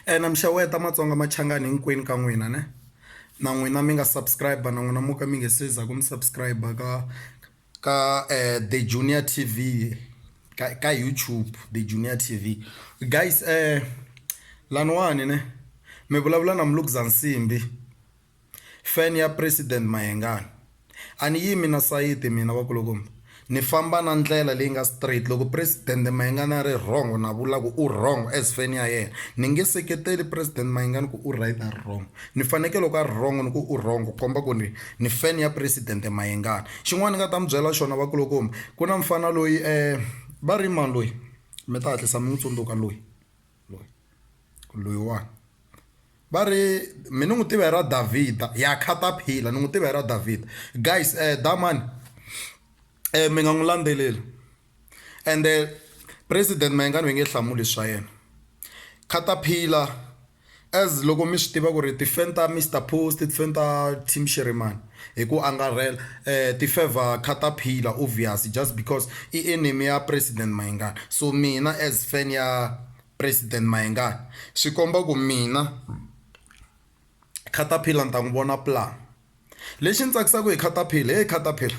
ene mixeweta matsonga machangani hinkwenu ka n'wina ne na n'wina mi nga subscribe na n'wina mo ka mi nge se za ku mi subscribe ka ka um the junior t v ka ka youtube the junior t v guys um laniwani ne mi vulavula na mulukuzansimbi Fan ya president Mayengani. A ni yimi na sayiti mina vakulukumba. Ni famba na ndlela leyi nga straight. Loko president Mayengani a ri wrong na vula ku u wrong as fan ya yena. Ni nge seketeli president Mayengani ku u right a ri wrong. Ni fanekele loko a ri wrong ni ku u wrong ku komba ku ni ni fan ya president Mayengani. Xin'wana ni nga ta mi byela xona vakulukumba ku na mufana loyi va ri i mani loyi mi ta hatlisa mi n'wi tsundzuka loyi loyi loyiwani. Va ri, Mina ni n'wi tiva hi ra Davhida. Ya khataphila, ni n'wi tiva hi ra Davhida. Guys, damani mi nga n'wi landzeleli. Ende President Mayengani va nge hlamuli hi swa yena. Khataphila as loko mi swi tiva ku ri ti-fan ta Mister Post, ti-fan ta Team Shirimani hi ku angarhela ti favour khataphila obvious just because i enemy ya President Mayengani. So mina as fan ya. President Mayengani, swi komba ku mina Caterpillar ni ta n'wi vona plan. Lexi ni tsakisaka hi Caterpillar he Caterpillar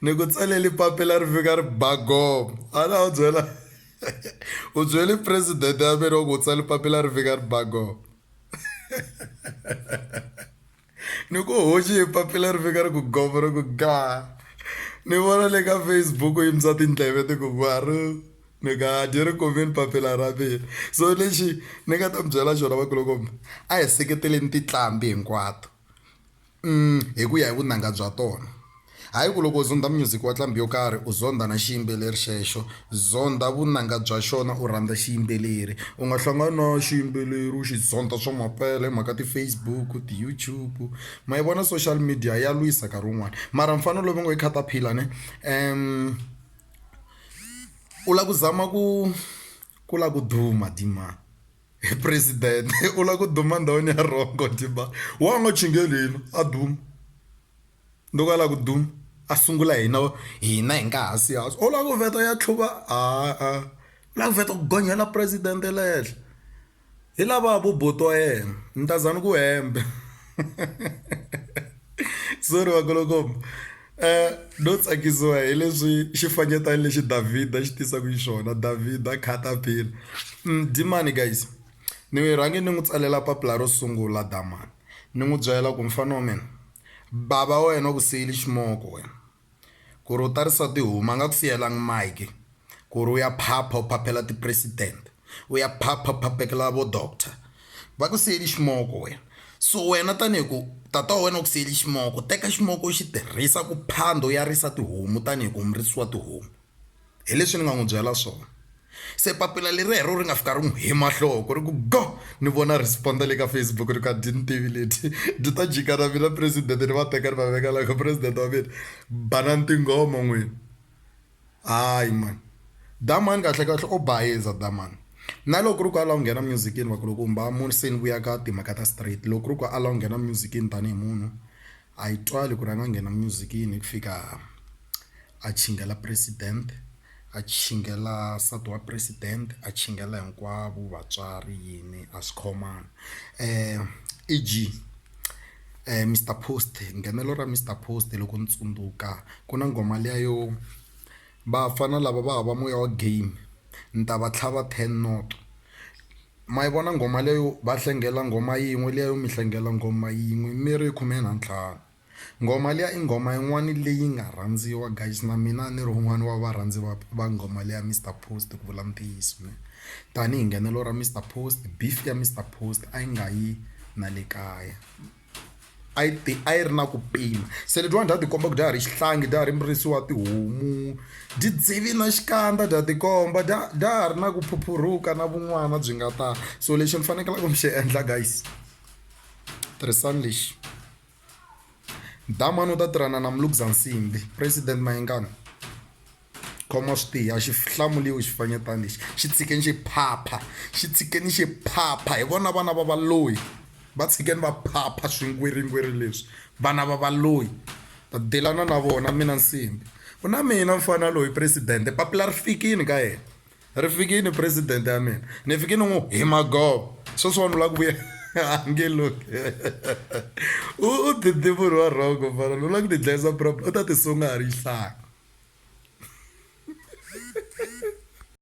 ni ku tsalele papila ri fika ri ba gomo a na wu byela u byele president ya mina wa ku u tsale papila ri fika ri ba gomo. ni ku hoxi hi papila ri fika ri ku govo ri ku gaa ni vona le ka facebook yi misa tindleve ti ku gwaru ni nga dyi ri kumini papila ra mina so lexi ni nga ta mi byela xona vakulukumba a hi seketeleni titlambi hinkwato um hi ku ya hi vunanga bya tona Hayi ku loko u zondha myuziki wa tlambi yo karhi u zondha na xiyimbeleri xexo. Zondha vunanga bya xona u rhandza xiyimbeleri. U nga hlangani na xiyimbeleri u xi zondha swa mampela hi mhaka ti-Facebook, ti-YouTube ma yi vona social media ya lwisa nkarhi wun'wani. Mara mufana loyi va ngo i caterpillar ne u lava ku zama ku ku lava ku duma dima hi president u lava ku duma ndhawini ya wrong dima wa ha ngo chingela hina a duma. Ni ku ala ku duma a sungula hina hina hi nga hansi hansi u lava ku vheta ya tlhuva a a u lava ku vheta ku gonyela president le henhla hi lavaya vo buti wa yena ni ta za ni ku hembe sorry vakulukumba no tsakisiwa hi leswi xifanyetana lexi Davhida xi tisaka xiswona Davhida khata phila dyi mani guys ni rhangi ni n'wi tsalela papila ro sungula dama. Ni n'wi byela ku, Mfana wa mina, bava wa wena u ku siyile ximoko wena ku ri u ta risa tihomu. A nga ku siyelangi mike ku ri u ya phapha u phaphela tipresident, u ya phapha u phaphekela vo doctor. Va ku siyele ximoko wena. So wena tanihi ku tata wa wena u ku siyele ximoko, teka ximoko u xi tirhisa ku phanda u ya risa tihomu tanihi ku u murisi wa tihomu. hi leswi ni nga n'wi byela swona se papila leri rero ri nga fika ri n'wi hi mahloko ri ku go ni vona respond le ka Facebook ri ka dyi ni tivi leti byi ta jika na mina president ni va teka ni va veka la ka president wa mina banana tinghoma n'wini hayi mani damani kahle kahle o bayiza damani na loko ku ri ku a la ku nghena music-ini va ku loko u mbala munhu se ni vuya ka timhaka ta straight loko ku ri ku a la ku nghena music-ini tanihi munhu A hi twali ku ri a nga nghena music-ini hi ku fika a chingela president, a chingela nsati wa president, a chingela hinkwavo vatswari yini a swi khomanga. E_G Mister Post nghenelo ra Mister Post loko ni tsundzuka ku na nghoma liya yo vafana lava va hava moya wa game ni ta va tlhava ten noto. Ma yi vona nghoma leyo va hlengela nghoma yin'we liya yo mi hlengela nghoma yin'we mi ri khume na ntlhanu nghoma liya i nghoma yin'wani leyi nga rhandziwa guys na mina a ni ri wun'wani wa varhandzi va va nghoma leya Mister Post ku vula ntiyiso ne tanihi nghenelo ra Mister Post beef ya Mister Post a yi nga yi na le kaya. a yi ti a yi ri na ku pima se letiwani dya tikomba ku dya ha ri xihlangi dya ha ri murisi wa tihomu dyi dzivi na xikandza dya tikomba dya dya ha ri na ku phuphuruka na vun'wana byi nga ta so lexi ni fanekelaka ni xi endla guys tirhisani lexi damani u ta tirhana na muluguzansimbi president mayengani khoma swi tiya xi hlamuriwi xifanyetana lexi xi tshikeni xi phapha xi tshikeni xi phapha hi vona vana va valoyi va tshikeni va phapha swingwiringwiri leswi vana va valoyi ta delana na vona mina nsimbi ku na mina mfana loyi presidente papila ri fikile ka yena ri fikini president ya mina ni fike ni n'wi hi magovo sweswi vanhu la ku vuya ange loki u dide munhu wa rhongo fana lowu la ku tidlayisa problem u ta tisunga ha ri hlaya